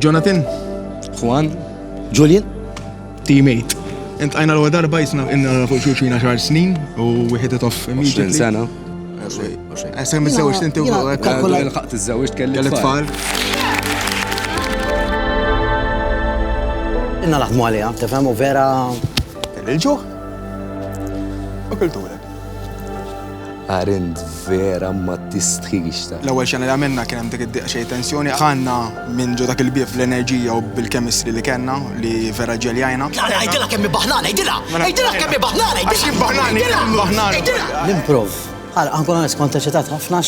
Jonathan, Juan, Julian, teammate. Int għajna l-għu darba jisna inna fuq xuxina xar snin u wieħed itof. 20 sena. Għasem iż-żewġ tinti u l-ħaqt iż-żewġ kelli tfal. Inna naħdmu għalija, tefhem u vera. Il-ġuħ? U kultura. Arend vera ma tistħix ta. L-ewwel xena li għamilna kien hemm dik id-diqa xejn tensjoni. Dħalna minn ġo dak il-bieb bl-enerġija u bil-chemistry li kellna li vera ġeljajna. Tara għidilha kemm hi baħnana, għidilha! Għidilha kemm hi baħnana, għidilha! Għax hi baħnana! Għidilha! L-improv. Ħa nkun onest kont eċitat ħafna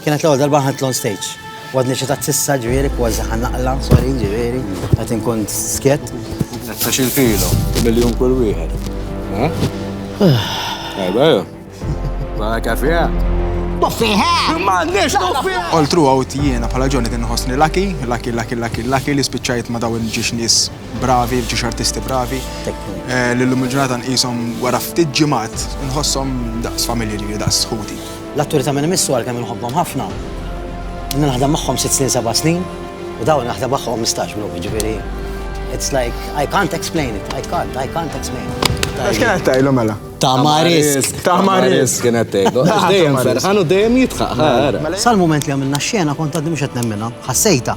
Kienet l-ewwel darba nħadd l-on stage. Għadni xi tat sissa ġifieri kważi ħan naqla, sorry ġifieri, qed inkun skjett. Ta' xi filo, miljun kull wieħed. Ejba, ma kafija. Tuffiħa! Ma nix tuffiħa! All throughout jiena bħala ġoni kien nħossni laki, laki, laki, laki, laki li spiċċajt ma dawn ġiex nies bravi, ġiex artisti bravi. Eh, L-lum il-ġurnata nqishom wara ftit ġimgħat nħossom daqs familji li daqs ħuti. L-atturi ta' min imissu għalkemm inħobbhom ħafna, ilni naħdem magħhom sitt snin seba' snin u dawn naħdem magħhom ħmistax lum, jiġifieri it's like I can't explain it, I can't, I can't explain it. Għax kien qed tgħidlu mela? Tama risk. Tama risk kien qed tgħidlu. Għax dejjem ferħan u dejjem jidħaq. Sal-mument li għamilna x-xena kont għadni mhux qed nemminha, ħassejtha.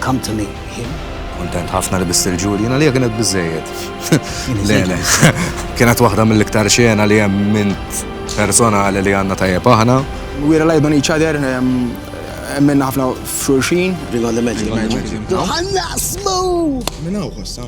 Come to me, him. Kuntent ħafna li biss il-ġuri, jina li kienet bizzejed. Lele, kienet waħda mill-iktar xena li jem minn personali li għanna tajjeb aħna. We relied on each other, minna ħafna f'xurxin. Ring on the magic. Ħanna smu! Minna u